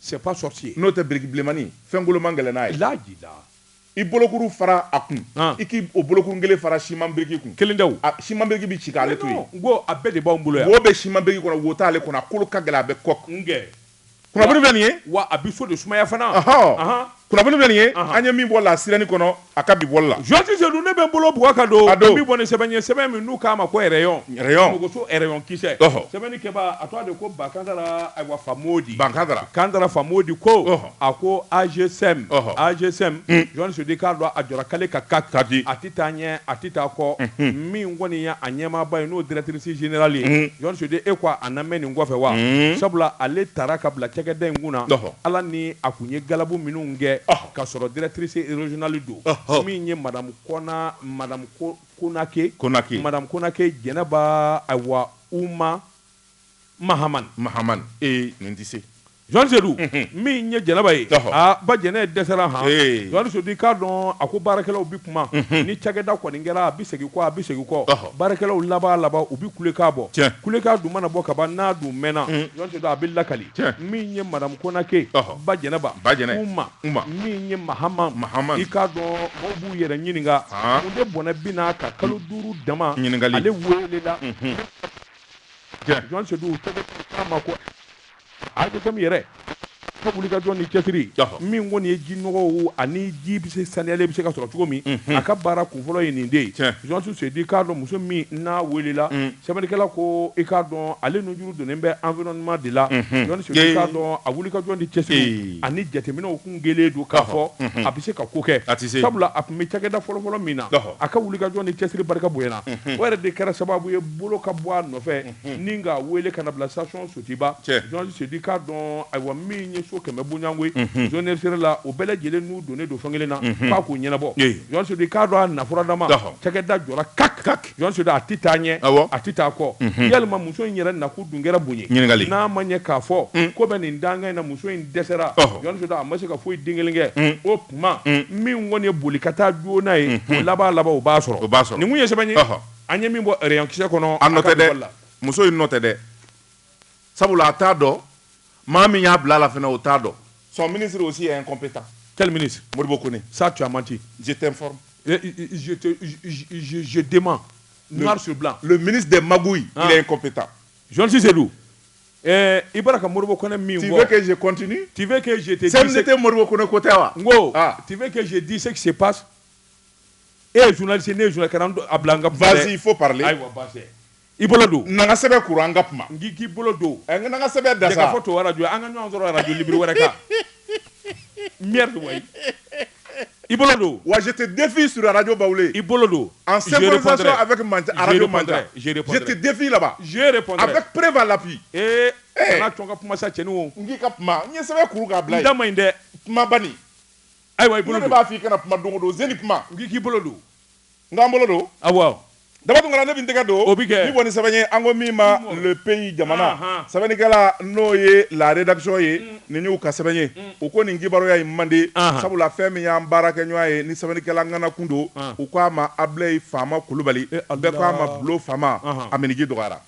c'est pas sorcier n'o tɛ biriki bilenmani fɛn kolo man gɛlɛn n'a ye i bolokuru fara a kun i k'o bolokuru kelen fara siman biriki kun kelen siman biriki bɛ ci k'ale to ko a bɛɛ de b'an bolo wo bɛ siman biriki kɔnɔ wo t'ale kɔnɔ a kolo ka gɛlɛn a bɛ kɔ kun kunnafoni bɛ nin ye wa a bɛ so de sumaya fana kunnafoni bɛ nin ye an ye min bɔ La Sirène kɔnɔ a ka bi bɔli la jɔnti sedu ne bɛ n bolo bugɔ ka don a don bɛ bɔ ni sɛbɛn ye sɛbɛn min n'u k'a ma ko rayon mogoso rayon kisɛ sɛbɛnnikɛbaa tɔgɔ de ko bakandara awa famodi kandara famodi ko a ko ANGESEM ANGESEM jɔnti sedu k'a dɔn a jɔra k'ale ka ka ta di a taa ɲɛ a tɛ taa kɔ min kɔni ye a ɲɛmaaba ye n'o directrice générale ye jɔnti sedu e ko a na mɛn nin kɔfɛ wa sabula ale taara ka bila cakɛda in kunna ala ni a tun ye galabu minnu kɛ ka sɔrɔ directrice régionale don min ye madamu konake madamu konake jɛnɛba ayiwa uma mahamani nin tɛ se Sedu min ye jɛnɛba ye ba jɛnɛ dɛsɛra han jɔn sedu k'a dɔn a ko baarakɛlaw bɛ kuma ni cakɛda kɔni kɛra a bɛ segin kɔ a bɛ segin kɔ baarakɛlaw laban laban u bɛ kulekan bɔ kulekan dun mana bɔ ka ban n'a dun mɛnna a bɛ lakali min ye madamu konake ba jɛnɛba uma min ye mahamani i k'a dɔn maaw b'u yɛrɛ ɲininka mun de bɔnɛ bɛna ka kalo duuru dama ale welela ANGESEM yɛrɛ ka wulikajɔ ni cɛsiri min kɔni ye ji nɔgɔw ani ji bɛ se saniyalen bɛ se ka sɔrɔ cogo min a ka baara kunfɔlɔ ye nin de ye Journaliste Seydou i k'a dɔn muso min n'a weelela sɛbɛnnikɛla ko i k'a dɔn ale nujuru donnen bɛ environnement de la Journaliste Seydou i k'a dɔn a wulikajɔ ni cɛsiri ani jateminɛw kun kɛlen don k'a fɔ a bɛ se ka ko kɛ sabula a tun bɛ cakɛda fɔlɔ-fɔlɔ min na a ka wulikajɔ ni cɛsiri barika bonyana o yɛrɛ de kɛra sababu ye bolo ka bɔ a nɔfɛ. ni k'a weele ka na a bila station Sotuba Journaliste Seydou i k'a dɔn ayiwa min ye so kɛmɛ bonyayanko zone sera la o bɛɛ lajɛlen n'u donnen don fan kelen na k'a k'u ɲɛnabɔ Journaliste Seydou i k'a dɔn a nafuda ma cakɛda jɔra kak Journaliste Seydou a tɛ taa ɲɛ a tɛ taa kɔ yalima muso in yɛrɛ nakun dun kɛra mun ye ɲininkali n'a ma ɲɛ k'a fɔ ko bɛ nin dankan in na muso in dɛsɛra Journaliste Seydou a ma se ka foyi den kelen kɛ o tuma min kɔni ye boli ka taa joona ye o laban laban o b'a sɔrɔ o b'a sɔrɔ nin ye sɛbɛn An ye min bɔ rayon kisɛ kɔnɔ, a nɔ tɛ dɛ, muso in nɔ tɛ dɛ, sabula a t'a dɔn maa min y'a bila a la fana o t'a dɔn. Son ministre aussi est incompétent. Quel ministre? Modibo Kone, ça tu as menti. Je t'informe. Je te je je demande noir sur blanc. Le ministre des magouilles il est incompétent. Journaliste Seydou, ɛɛ i b'a la ka Modibo Kone min fɔ. Tu veux que je continue? Tu veux que je te dise. CMDT Modibo Kone ko tɛ wa? N ko, tu veux que je dise ce qui se passe? e ye journaliste ne ye journaliste kana a bila n ka kuma vas-y il faut parler ayiwa basi i bolo don na n ka sɛbɛn kuru an ka kuma n k'i bolo don ɛ n ka na n ka sɛbɛn da sa ka fɔ to radio an ka ɲɔgɔn sɔrɔ radio libre wɛrɛ kan merde wayi i bolo don wa je te défie sur radio bawule i bolo don en synchronisation avec radio mantra je te défie là-bas je répondrai avec preuve à l'appui ee kana a to n ka kuma sa cɛnin o n k'i ka kuma n ye sɛbɛn kuru k'a bila yen n da man ɲi dɛ kuma bani ayiwa i bolo don b'a fɔ i kana kuma don o don zeni kuma n k'i k'i bolo don n ka n bolo don awɔ Daba Tunkara ne bi n tɛgɛ don o bi kɛ nin kɔni sɛbɛn ye an ko min ma le pays jamana sɛbɛnnikɛla n'o ye la rédaction ye mm. nin y'u ka sɛbɛn ye mm. u ko nin kibaruya in man di sabula fɛn min y'an baarakɛɲɔgɔn ye ni sɛbɛnnikɛla ŋana kun don u ko a ma abulayi faama kulubali eh, bɛɛ ko a ma bulo faama a minniji dɔgɔyara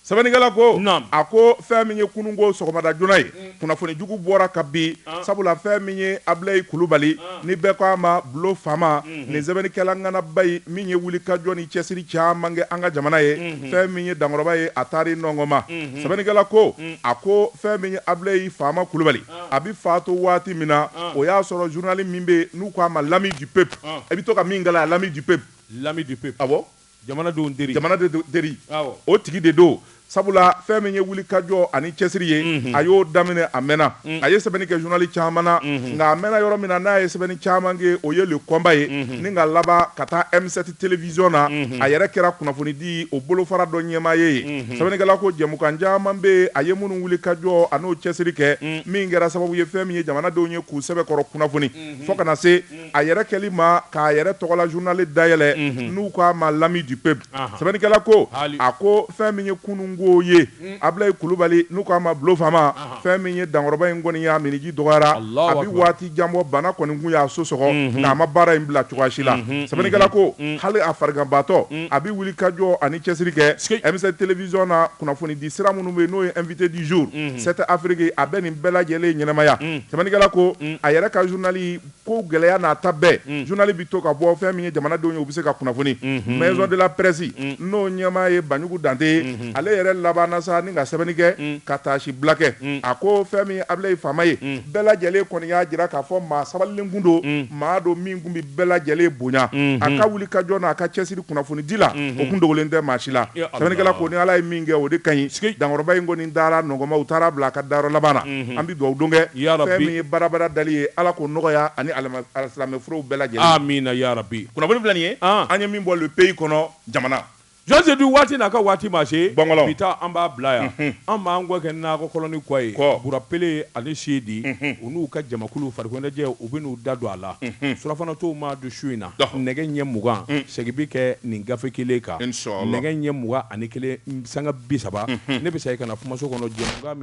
sɛbɛnnikɛla ko a ko fɛn min ye kununko sɔgɔmada joona ye mm. kunnafoni jugu bɔra ka bin ah. sabula fɛn min ye abilayi kulubali ah. ni bɛɛ ko a ma bulo faama mm-hmm. nin sɛbɛnnikɛla ŋanaba ye min ye wulikajɔ ni cɛsiri caman kɛ an ka jamana ye mm-hmm. fɛn min ye dankɔrɔba ye a taari nɔngɔma mm-hmm. sɛbɛnnikɛla ko mm. a ko fɛn min ye abilayi faama kulubali ah. a bi fatu waati min na o y'a sɔrɔ journal min bɛ n'u ko a ma l'ami du peuple i bɛ to ka min kalan l'ami du peuple l'ami du peuple awɔ Jamanadenw teri, jamanadenw teri, awɔ, o tigi de don sabula fɛn min ye wulikajɔ ani cɛsiri ye, unhun, a y'o daminɛ a mɛnna, un, a ye sɛbɛnni kɛ journal caman na, unhun, nka a mɛnna yɔrɔ min na n'a ye sɛbɛnni caman kɛ o ye Le Combat ye, unhun, ni ka laban ka taa M7 television na, unhun, a yɛrɛ kɛra kunnafonidi o bolofara dɔ ɲɛmaa ye yen, unhun, sɛbɛnnikɛla ko jɛmukan caman bɛ yen a ye minnu wulikajɔ an'o cɛsiri kɛ, un, min kɛra sababu ye fɛn min ye jamanadenw ye k'u sɛbɛkɔrɔ kunnafoni, unhun, fo ka na se a yɛrɛ kɛli ma k'a yɛrɛ tɔgɔla journal dayɛlɛ n'u k'a ma l'ami du peuple sɛbɛnnikɛla ko a ko fɛn min ye kunun ko ye Abilaye Kulubali n'u k'a ma Bulo faama fɛn min ye Dankɔrɔba in kɔni ye a minniji dɔgɔyara a bɛ waati jan bɔ bana kɔni tun y'a so sɔgɔ nka a ma baara in bila cogoya si la sɛbɛnnikɛla ko hali a fariganbaatɔ a bɛ wulikajɔ ani cɛsiri kɛ M7 television na kunnafonidi sira minnu bɛ yen n'o ye invité du jour 7 Afrique a bɛ nin bɛɛ lajɛlen ɲɛnamaya sɛbɛnnikɛla ko a yɛrɛ ka journal Ko gɛlɛya n'a ta bɛɛ journal bɛ to ka bɔ fɛn min ye jamanadenw ye u bɛ se ka kunnafoni Maison de la presse n'o ɲɛmaa ye Banjugu Dante ye ale yɛrɛ labanna sa ni ka sɛbɛnni kɛ ka taasibila kɛ a ko fɛn min ye Abilaye Faama ye bɛɛ lajɛlen kɔni y'a jira k'a fɔ maa sabalilen tun don maa don min tun bɛ bɛɛ lajɛlen bonya a ka wulikajɔ n'a ka cɛsiri kunnafonidi la o tun dogolen tɛ maa si la sɛbɛnnikɛla ko ni Ala ye min kɛ o de ka ɲi dankɔrɔba in kɔni dara nɔgɔma u taara bila a ka dayɔrɔ laban an bɛ dugawu don kɛ fɛn min ye barabara dali ye Ala k'o nɔgɔya ani alisilamɛ furew bɛɛ lajɛlen kunnafoni filɛ nin ye an ye min bɔ Le Pays kɔnɔ jamana Jean Seyidu waati n'a ka waati ma se ban bɛ taa an b'a bila yan an b'an kɔ kɛ nɔrɔnin kuwa ye Burapele ani Seyidi u n'u ka jamakulu farikoloɲɛnajɛ u bɛ n'u da don a la surafana tɔw ma don su in na nɛgɛ ɲɛ mugan segin bɛ kɛ nin gafe kelen kan nɛgɛ ɲɛ mugan ani kelen sanga bi saba ne bɛ se ka na kumaso kɔnɔ